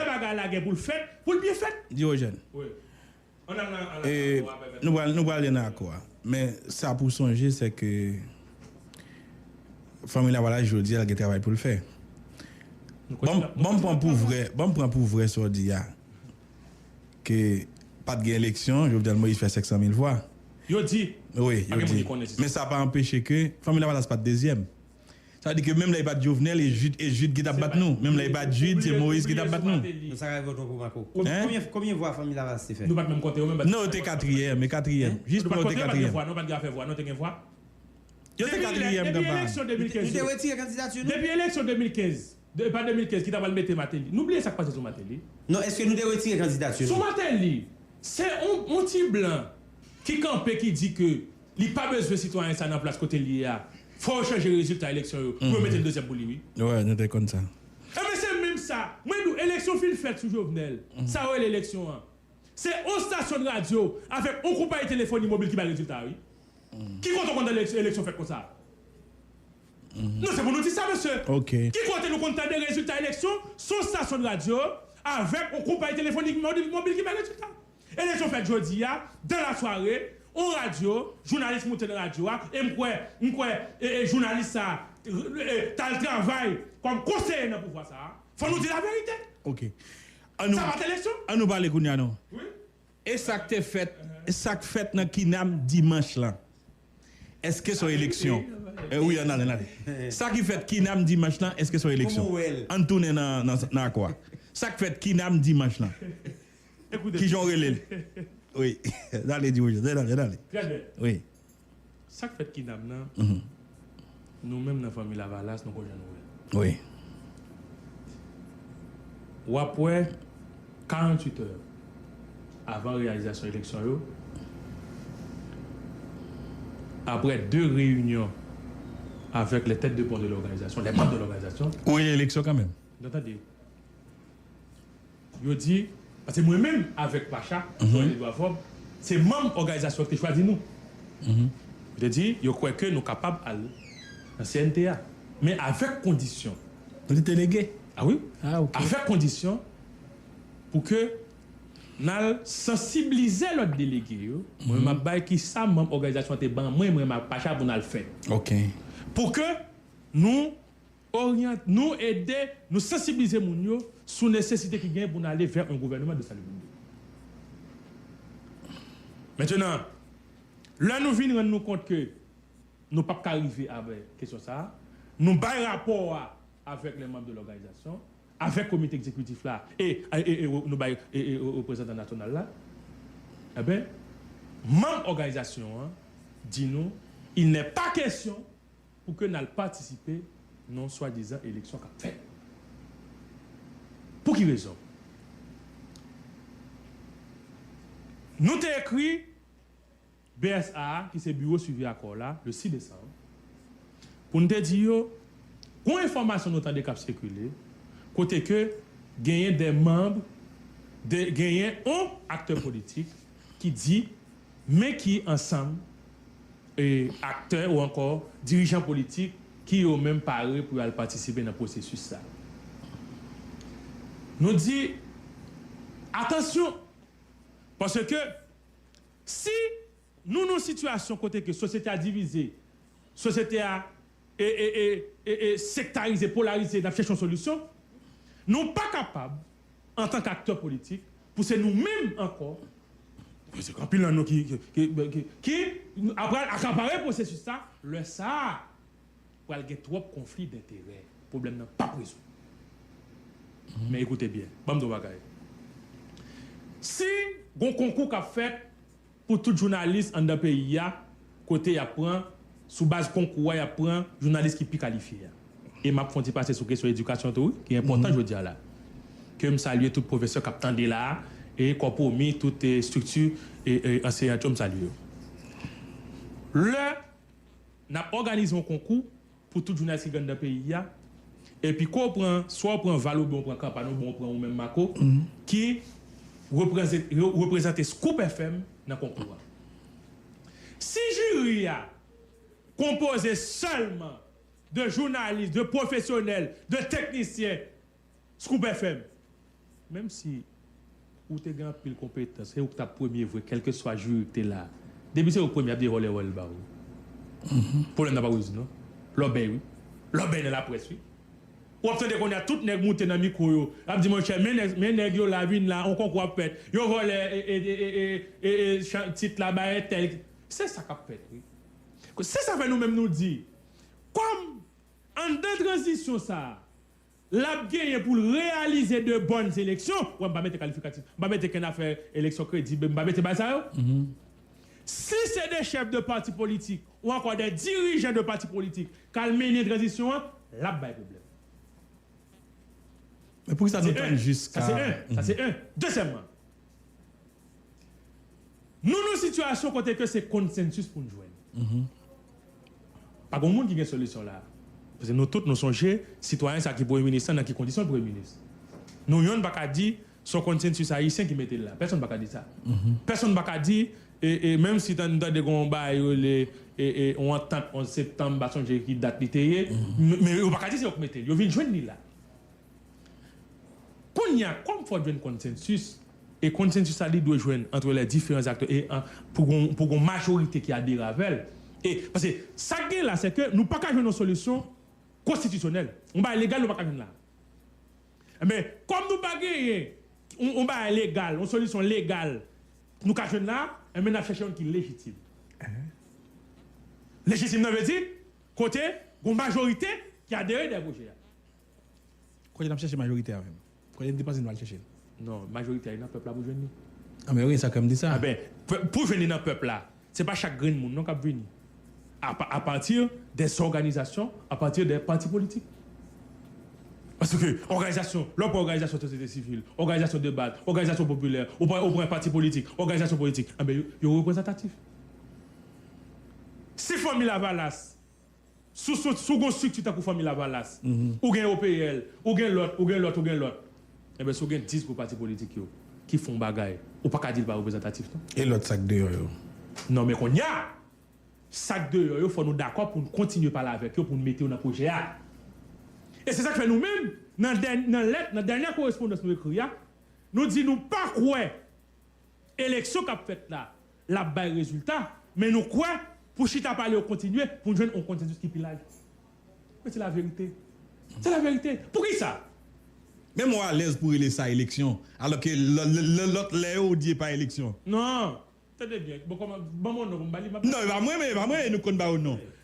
bagay la gen pou l fèt, pou l byen fèt. Diogène, Nou prale nan akò a, men sa pou w sonje se ke Fanmi Lavalas jodi a l gen travay pou l fè. Ban m pran pou vre sa w di a, ke pa t gen eleksyon, Jovenel Moïse fè 500 mil vwa. Yo di, pa gen moun ki konnen si se vre. Men sa pa anpeche ke Fanmi Lavalas pa t dezyèm. Sa vle di ke menm lè li pat Jovenel e Jude e Jude ki tap bat nou menm lè li pat Jude se Moise ki tap bat nou. Nou sa rayvò twò pou Marco. Konbyen konbyen vwa fanmi Lavalas te fè? Nou pat menm konte yo menm bat Nou yo te katriyèm e katriyèm jis pran yo te katriyèm. Nou pat gen afè vwa non te gen vwa. Yo te katriyèm kanpay. Depi eleksyon 2015 yo Nou te retire kandidati nou. Depi eleksyon 2015 e pa 2015 ki ta pral mete Martelly. Nou bliye sak pase sou Martelly. Non eske nou te retire kandidati nou. Sou Martelly se yon yon ti blan ki kanpe ki di ke Li pa bezwen sitwayen sa nan plas kote l ye a. Fò yo chanje rezilta eleksyon yo pou yo mete yon dezyèm pou li wi. Wè nou te konn sa. Enben se menm sa mwen di w eleksyon fin fèt sou Jovenel. Sa yo rele eleksyon an. Se on stasyon radyo avèk on konpayi telefoni mobil ki bay rezilta a wi. Ki kote w konn tande eleksyon fèt konsa? Non se pou nou di sa mesye. Ki kote nou konn tande rezilta eleksyon son stasyon radyo avèk on konpayi telefoni mobil ki bay rezilta? Eleksyon fèt jodi a, dans la soirée, on radyo, jounalis moute nan radyo a, e m kwè, m kwè e jounalis sa a t al travay kòm konseye nan pouvwa sa a. Fò nou di laverite! Ok. An nou, Sa pa t eleksyon! an nou pale kounye a nan. Wi. E sa k te fèt, sa k fèt nan Kinam dimanch lan, èske s on eleksyon? E wi, an n ale, n ale. Sa ki fèt Kinam dimanch lan, èske s on eleksyon? An n tounen nan, nan akò a. Sa k fèt Kinam dimanch lan. Kijan w rele l? Wi. Dale di bonjou. Dale, dale, dale. Trè byen. Wi. Sa k fèt Kinam nan, nou menm nan Fanmi Lavalas nou konn jan nou wè l. Wi. W ap wè 48 è avan reyalizasyon eleksyon yo, aprè 2 reyinyon avèk lè tèt de pon de lòganizasyon, lè manm de lòganizasyon. Ou gen eleksyon kanmenm. Nan tande. Yo di, paske mwen menm avèk Pacha, Joel Edouard Faube, se manm òganizasyon ki te chwazi nou. Yo te di, yo kwè ke nou kapab al nan CNT a. Men avèk kondisyon. Nou te delege? A wi. A ok. Avèk kondisyon pou ke n al sansiblize lòt delege yo. Mwen menm m ap bay ki sa manm òganizasyon an te ban mwen, mwen menm ak Pacha pou n al fè. Ok. Pou ke nou. Oryante nou, ede nou sansiblize moun yo sou nesesite ki gen pou nou ale vè yon gouvèneman de salibrite. Mentenan, lè nou vin rann nou kont ke nou pap ka rive avè kesyon sa a, nou bay rapò a avèk lè manb de lòganizasyon, avèk komite ekzekwitif la e nou bay reprezantan nasyonal la. Enben, manb òganizasyon an di nou, il nè pa kesyon Pou ke nal patisipe nan yon swadizan eleksyon kap fèt. Pou ki rezon? Nou te ekri BSA a ki se Biwo Swivi Akò la le 6 desanm pou n te di yo gon enfòmasyon nou tande kap sikile kote ke genyen de manb de genyen on aktè politik ki di men ki ansanm aktè ou ankò dirijan politik ki yo menm pare pou yo al patisipe nan pwosesis sa. Nou di atansyon paske si nou nan yon sitiyasyon kote ke sosyete a divize, sosyete a e e e e e sektarize, polarize n ap chèche yon solisyon, nou pa kapab antan k aktè politik pou se nou menm ankò, paske anpil nan nou ki ki ki ki ap pral akapare pwosesis sa, lè sa pral gen twòp konfli denterè, pwoblèm nan pap rezoud. Men ekoute byen, ban m di w yon bagay, si gon konkou k ap fèt Pou tout jounalis anndan peyi a kote yap pran sou baz konkou a yap pran jounalis ki pi kalifye a. E map fon ti pase sou kesyon edikasyon tou wi ki enpòtan jodia la. Ke m salye tout pwofesè kap tande la e kòpwomi tout estrikti anseyant yo m salye yo. Lè nap òganize yon konkou Pou tout jounalis ki gen anndan peyi a. E pi ke w pran, swa w pran Val oubyen w pran kanpay oubyen w pran ou menm Mako, ki reprezante Scoop FM nan konkou a. Si jiri a konpoze sèlman de jounalis, de pwofesyonèl, de teknisyen, Scoop FM! Menm si ou te gen anpil konpetans se ou ki tap premye vre kelkeswa juri ki te la depi se ou ki premye yap devole wòl ba ou pwoblèm nan pa pou Jezi non lòbèy wi lòbèy nan laprès wi ou ap tande kounya tout nèg moute nan mikwo yo ap di monchè men nèg yo la vin la on konkou ap fèt yo vòlè tit la bay entèl se sa kap fèt wi se sa fè nou menm nou di kòm anndan tranzisyon sa. L ap genyen pou l reyalize de bòn eleksyon. Wè m pa mete kalifikatif. M pa mete kenn afè eleksyon kredib. M pa mete bagay sa yo. Si se de chèf de pati politik ou ankò de dirijan de pati politik k al mennen tranzisyon an, l ap bay pwoblèm. Se 1. Sa se 1. Dezyèmman. Nou nan sitiyasyon kote ke se konsensis pou n jwenn. Pa gen yon moun ki gen solisyon la a. Paske nou tout nou sonje sitwayen sa ki premye minis lan nan ki kondisyon l premye minis. Nou yonn pa ka di se yon konsensis ayisyen ki mete l la. Pèsonn pa ka di sa. Pèsonn pa ka di e menm si nou tande gen yon bagay yo rele yon antant 11 septanm m pa sonje ki dat li te ye men yo pa ka di se yo ki mete l. Yo vin jwenn li la. Kounye a, kòm fò jwenn konsensis, e konsensis sa li dwe jwenn antre lè diferan zaktè e an pou gon pou gon majorite ki adere avè l. E pase sa k genyen la se ke nou pa ka jwenn yon solisyon konstitisyonèl. Yon bagay legal nou pa ka jwenn la. Enben, kòm nou pa genyen yon yon bagay legal, yon solisyon legal nou ka jwenn la, enben n ap chèche yon ki lejitim. Lejitim nan vle di kote gon majorite ki adere dèyè pwojè a. Kote nap chèche majorite a menm? Kote endepanse nou al chèche l? Non, majorite a e nan pèp la pou jwenn li. Anben wi, sa kèm di sa. Anben, pou jwenn li nan pèp la, se pa chak grenn moun non kap vini. A pati dè zòganizasyon, a pati dè pati politik. Paske òganizasyon, lè w pran òganizasyon sosyete sivil, òganizasyon de baz, òganizasyon popilè, ou pran ou pran pati politik, òganizasyon politik, anben yo reprezantatif. Si Fanmi Lavalas. Si w gen yon strikti tankou Fanmi Lavalas, ou gen OPL, ou gen lòt, ou gen lòt, ou gen lòt, enben si w gen 10 gwo pati politik yo ki fon bagay, ou pa ka di li pa reprezantatif non. E lòt sa k deyò yo? Non men kounye a, sa k deyò yo fò nou dakò pou n kontinye pale avèk yo pou n mete yo nan pwojè a. E se sa k fè nou menm nan lèt, nan dènyè korespondans nou ekri a, nou di nou pa kwè eleksyon k ap fèt la L ap bay rezilta, men nou kwè pou chita pale yo kontinye pou n jwenn yon konsansis ki pi laj. Men se laverite. Se laverite. Poukisa? Men mwen alèz pou rele sa eleksyon, alò ke lòt lè yo ou di e pa eleksyon. Non! Tande byen, bon kòman, ban mwen yon non pou m ba li, m ap ba li. Non, e pa mwen, e pa mwen, e nou k konn ba yo non.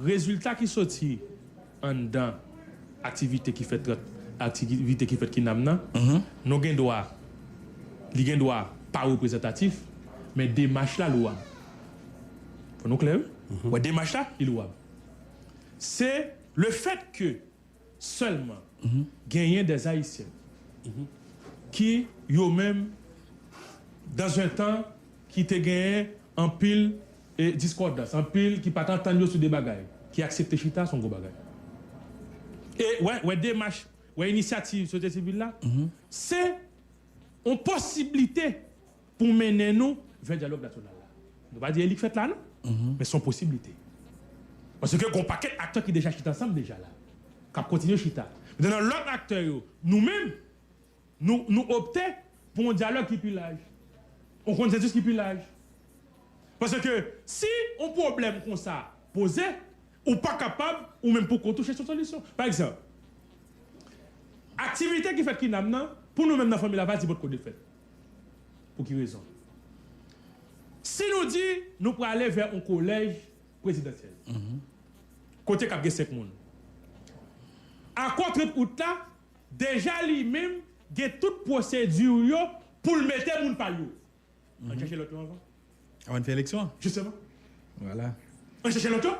Rezilta ki soti anndan aktivite ki fèt ant aktivite ki fèt kinam nan non gen dwa li gen dwa pa reprezantatif men demach la louwab. Fò nou klè wi. Wè demach la li louwab. Se lefèt ke. Sèlman genyen des Haïtiens ki yo menm dans un tan ki te genyen anpil discordance, anpil ki pat antann yo sou de bagay, ki aksepte chita son gwo bagay. E wè demach, wè inisyativ sosyete sivil la, se yon posiblite. Pou mennen nou vè dyalòg nasyonal la. Nou pa di e li k fèt la non, men s on posiblite. Paske gon pakèt aktè ki deja chita ansanm deja la, k ap kontinye chita. Metè nan lòt aktè yo, nou menm, nou nou opte pou on dyalòg ki pi laj, on konsensis ki pi laj. Paske si on pwoblèm konsa poze. Ou pa kapab ou menm pou kont ou chèche yon solisyon. Pa egzanp, aktivite ki fèt kinam nan, pou nou menm nan fanmi Lavalye, se potko de fèt. Pou ki rezon? Si nou di nou prale vè yon kolèj prezidansyèl, kote k ap gen senk moun, akò 30 out la deja li menm gen tout pwosedi l yo pou l mete moun pa l yo. An n chèche loto anvan. Avan n fè eleksyon an. Jisteman. Vwala. An n chèche loto.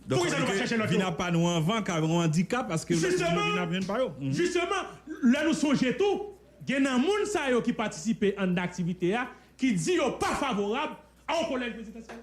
Donk sa vle di ke vin apa nou anvan ka yon andikap paske lòt moun yo vin ap jwenn pa yo. Jisteman. Jisteman. Lè nou sonje tou gen nan moun sa yo ki patisipe anndan aktivite a ki di yo pa favorab a yon kolèj prezidansyèl.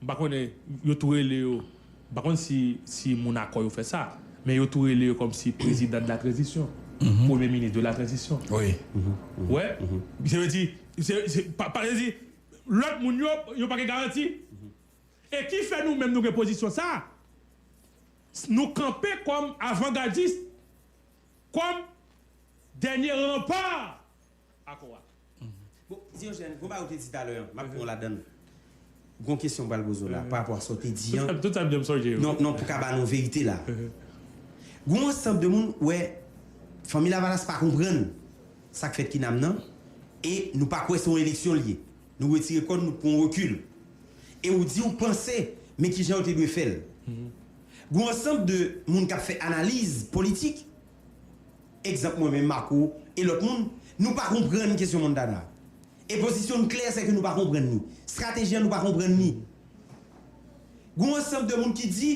M pa konnen, yo tou rele yo, m pa konn si si moun akò yo fè sa, men yo tou rele yo kòm si prezidan de la tranzisyon, premye minis de la tranzisyon. Ou wè? Se vle di, se se pa pa vle di lòt moun yo, yo pa gen garanti. E ki fè nou menm nou gen pozisyon sa a, nou kanpe kòm avangadis, kòm dènye ranpa. akò a. Bon, Diogène, gwo bagay ou te di talè an, m'ap pran w' ladan l'. G'on kesyon m'pral poze w' la parapò a sa w' te di an. Tout sa m'dem sonje yo. Non, non, pou ka ba nou verite la. G'on ansanb de moun, wè, Fanmi Lavalas pa konprann sa k' fèt Kinam nan e nou pa kwè se yon eleksyon li ye. Nou retire kò n', nou pran yon rekil. E ou di ou panse, men kijan yo te dwe fè l'. G'on ansanb de moun k'ap fè analiz politik. Egzanp mwen menm, Marco, e lòt moun, nou pa konprann kesyon Montana. E pozisyon n klè, sèke nou pa konprann ni. Strateji an nou pa konprann ni. Gon w ansanb de moun ki di,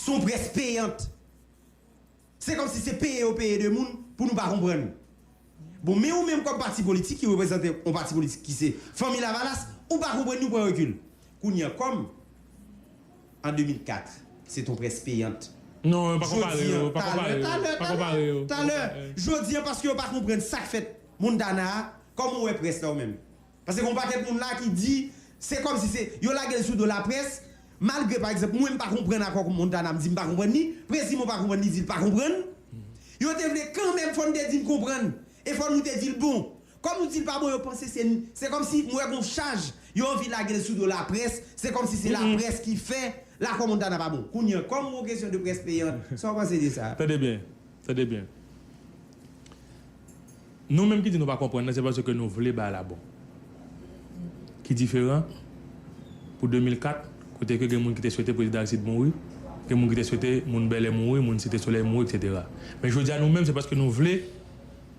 son près peyant. Se kòmsi se peye yo peye de moun pou nou pa konprann. Bon men ou menm kòm pati politik ki reprezante yon pati politik ki se Fanmi Lavalas, ou pa konprann ni pran rekil. Kounye an kòm an 2004 se ton près peyant, jodi an talè, talè, talè, talè, jodi an paske yo pa konprann sa k fèt Montana a, kòman ou wè près la ou menm? Paske gen yon pakèt moun la ki di se kòm si se yo lage l sou do laprès, malgre pa egzanp mwen m pa konprann akò kou Montana m di m pa konprann li, Prezi Mo pa konprann li di l pa konprann. Yo te vle kanmenm fò n te di n konprann e fò nou te di l bon. Kòm nou di l pa bon yo panse se n, se kòm si m wè gen yon chaj yo anvi lage l sou do laprès, se kòm si se laprès ki fè lakò Montana pa bon. Kounye an, kòm yon kesyon de près peyant, sa w panse de sa? Tande byen, tande byen. Nou menm ki di nou pa konprann nan se paske nou vle bay la bon. Ki diferan pou 2004 kote ke gen moun ki te swete Prezidan Aristide mouri, gen moun ki te swete moun Bèlè mouri, moun Site Solèy mouri etc. Men jodi a nou menm se paske nou vle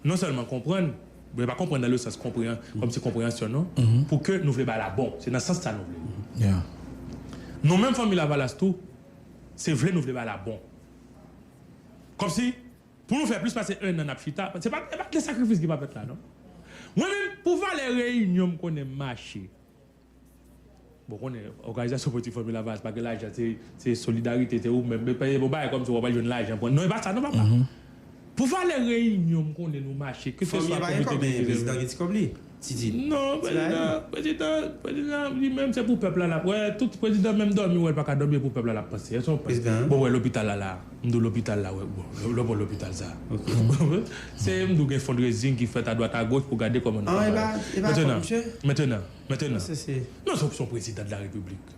non sèlman konprann, men pa konprann nan le sans konpreyan, kòm si konpreyansyon non, pou ke nou vle bay la bon. Se nan sans sa nou vle li. Nou menm Fanmi Lavalas tou se vle nou vle bay la bon. Kòm si Pou nou fè plis pase 1 an nap chita, se pa gen sakrifis ki pa fèt la non. Mwen menm pou valè reyinyon m konnen mache. Bon ou konnen òganizasyon politik Fanmi Lavalas pa gen lajan se solidarite se ou menm men pa gen yon bagay kòmsi wap al jwenn lajan pou non e pa sa non papa. Pou valè reyinyon m konnen nou mache keseswa komite ki prezan. Fanmi an pa gen kòb men prezidan gen ti kòb li. Titid, Non, prezidan, prezidan, prezidan li menm se pou pèp la lap wè, tout prezidan menm dòmi ou wèl paka dòmi e pou pèp la lap panse. Èske ou panse bon wè lopital la la, m di w lopital la wè bon lè w wè lopital sa a se m di w gen fundraising ki fèt adwat agoch pou gade kòman nou ka bay. Mentenan, mentenan, mentenan, non se w ki se w prezidan de la repiblik.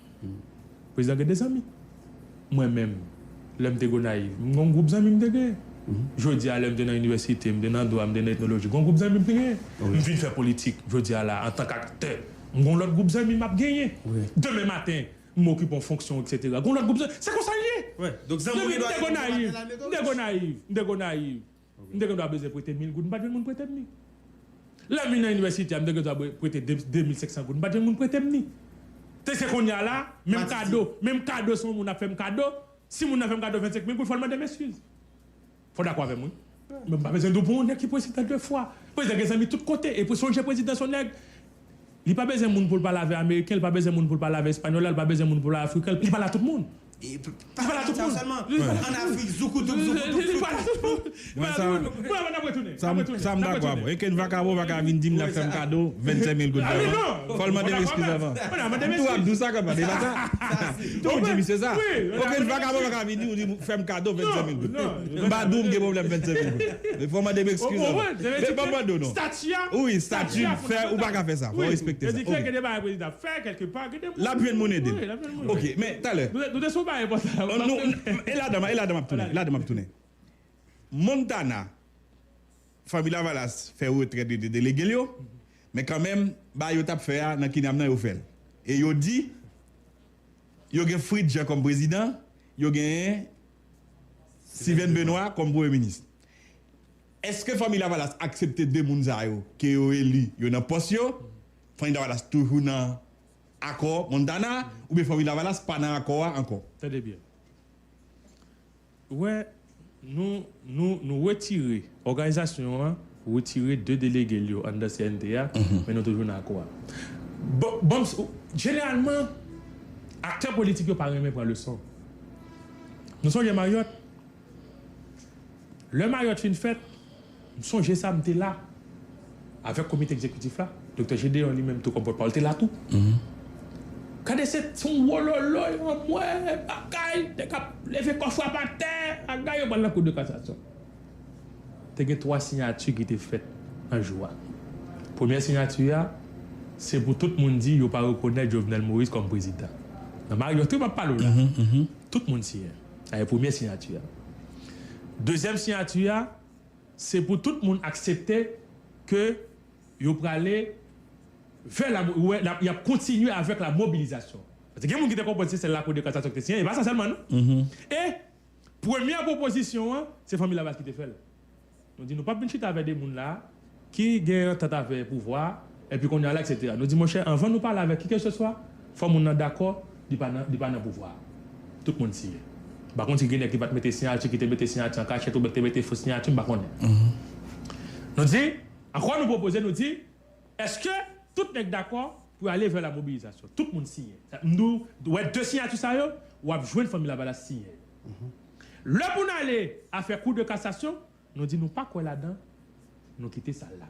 Prezidan gen de zanmi. Mwen menm, lè m te Gonayiv, m gen yon gwoup zanmi m te gen. Jodi a lè m te nan inivèsite, m te nan dwa, m te nan etnoloji, gen yon gwoup zanmi m te gen. M vin fè politik jodi a la antank aktè, m gen yon lòt gwoup zanmi m ap genyen. Demen maten, m okipe yon fonksyon eksetera, gen yon lòt gwoup zanmi. Se konsa l ye! Depi m te Gonayiv, m te Gonayiv, m te Gonayiv. M te gendwa bezwen prete mil goud, m pa t jwenn moun prete m li. Lè m vin nan inivèsite a, m te gendwa prete de de mil senk san goud, m pa t jwenn moun prete m ni. Te se kounye a la, menm kado, menm kado si yon moun ap fè m kado, si moun nan fè m kado vennsenk mil goud, fò l mande m eskiz. Fò w dakò avè m wi. Men m pa bezwen di w pou yon nèg ki prezidan de fwa. Prezidan gen zanmi tout kote. E pou sonje prezidan s on nèg. Li pa bezwen moun pou l pale avè ameriken, li pa bezwen moun pou l pale avè espanyòl la, li pa bezwen moun pou l pale afriken l, li pale a tout moun. Li pale a tout moun. Sa m dakò avè w. Eken vakabon pa ka vin di m l ap fè m kado 25 mil goud dèman. Fò l mande m eskiz avan. M tou ap di w sa konpa, se pa sa? Tou di misye sa. Okenn vakabon pa ka vin di w fè m kado 25 mil goud. M pa di w m gen pwoblèm 25 mil goud. Ou konprann? Sa vle di ke stati a, stati a fondamantal. Wi, sa vle di ke gen de bagay prezidan ap fè kèlke pa, gen de moun. L ap jwenn moun ede l. Ok, men talè. Nou te sou yon bagay enpòtan la. An nou, e ladan m, e ladan m ap tounen, ladan m ap tounen. Montana, Fanmi Lavalas fè retrèt yo te delege l yo, men kanmenm bagay yo t ap fè a nan kinam nan yo fè l. E yo di yo gen Fritz Jean kòm prezidan, yo gen. Stivèn Benwa kòm premye minis. Eske Fanmi Lavalas aksepte 2 moun sa yo ke yo eli yo nan pòs yo? Fanmi Lavalas toujou nan akò Montana oubyen Fanmi Lavalas pa nan akò a ankò? Tande byen. Wè, nou, nou, nou retire. Òganizasyon an retire 2 delege l yo anndan CNT a, men nou toujou nan akò a. Bon, jeneralman, aktè politik yo pa renmen pran leson. Nou sonje Maryòt? Lè Maryòt fin fèt, m sonje sa, m te la, avèk komite egzekitif la, Doktè Jedeon li menm tou kòm pòtpawòl te la tou. Gade se t yon wololoy, anmwee, bagay, nèg ap leve kò frap atè, agay yo pral nan kou de kasasyon. te gen twa siyati ki te fèt nan jou a. Premyè siyati a, se pou tout moun di yo pa rekonèt Jovenel Moïse kòm prezidan. Nan Mariotte wi m ap pale w la. Tout moun siyen. Sa se premye siyati a. Dezyèm siyati a, se pou tout moun aksepte ke yo prale vè la, ou wè, y ap kontinye avèk la mobilizasyon. Paske gen moun ki te konprann se sèl Lakou de Kasasyon ki te siyen. E pa sa sèlman non. E. Premyè pwopozisyon an, se Fanmi Lavalas ki te fè l. Nou di nou pap vin chita avè de moun la a ki gen antant avè pouvwa a, epi kounye a la eksetera. Nou di monchè anvan nou pale avè kikeseswa, fò moun nan dakò li pa nan li pa nan pouvwa a. Tout moun siyen. M pa konn si gen nèg ki pa t mete siyati, ki te mete siyati an kachèt oubyen ki te mete fo siyati, m pa konnen. Nou di, ankò nou pwopoze, nou di. Eske tout nèg dakò pou yo ale vè la mobilizasyon? Tout moun siyen. M di w, wè de siyati sa yo, w ap jwenn Fanmi Lavalas siyen yo. Lè pou n ale afè kou de kasasyon, nou di nou pa kwè ladan, nou kite sa la.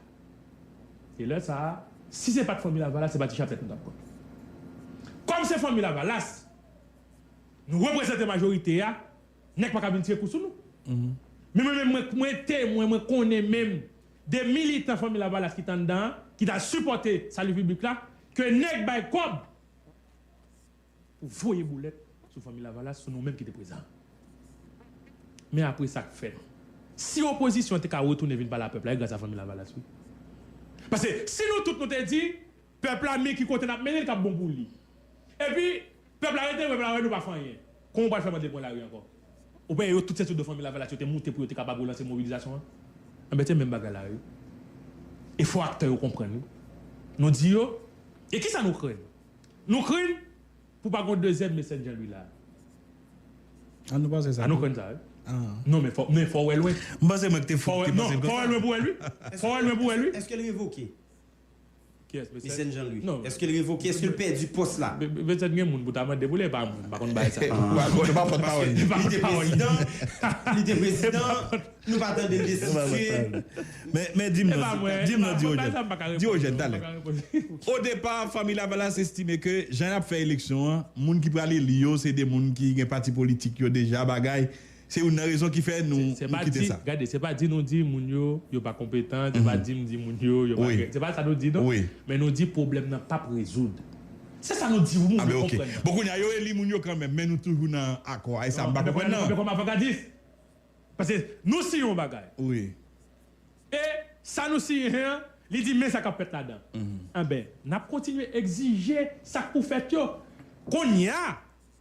E lè sa a, si se pa t Fanmi Lavalas, se pa ti chaplèt nou t ap pran. Kòm se Fanmi Lavalas, nou reprezante majorite a, Nèg paka vin tire kou sou nou. Men mwen menm mwen mwen temwen mwen konnen menm de militan Fanmi Lavalas ki t anndan an ki ta sipòte Sali Piblik la ke nèg bay kòb pou voye boulèt sou Fanmi Lavalas sou nou menm ki te prezan an. Men apre sa k fè nou. Si opozisyon te ka retounen vin pale a pèp la e gras a Fanmi Lavalas wi. Pase si nou tout nou te di Pèp la men ki kote nap mennen li kap bon pou li epi pèp la rete pèp la wè nou pa fè anyen kòman ou pral fè mandel pran lari ankò ou penyen yo tout se sou do fanmi lavalas yo te moute pou yo te kapab relanse mobilizasyon an anben se menm bagay la wi e fò aktè yo konprann wi nou di yo e kisa nou krenn nou krenn pou pa gon dezyèm me sèn janlwi la a nou panse sa tou a nou krenn sa wi non men fò men fò wè lwen m panse mwen ki te fò wè non fò wè lwen pou wèl wi fò wè lwen pou wèl wi. Èske l revoke? Mecène Jean Louis eske l revoke eske l pèdi pòs la? Mecène gen moun pou ta mande pou li e pa moun m pa konn bagay sa yo. Li pa pòt pawòl li. Li te prezidan li te prezidan nou pa tande l destitye. Men di m non di m non Diogène Diogène talè o depa fanmi Lavalas estime ke jan y ap fè eleksyon an moun ki pral eli yo se de moun ki gen pati politik yo deja bagay Se youn nan rezon ki fè nou kite sa. Gade, se pa di nou di moun yo, yo pa konpetan, se pa di m di moun yo, yo pa gen, se pa sa nou di non, men nou di pwoblèm nan p ap rezoud. Se sa nou di wi, moun yo konprann nan. Bon kounye a, yo eli moun yo kanmenm, men nou toujou nan akò a, e sa m pa konprann nan. Kòm avangardis, paske nou siyen yon bagay, e sa nou siyen an, li di men sa k ap fèt ladan, anben, n ap kontinye egzije sa k pou fèt yo. Kounye a,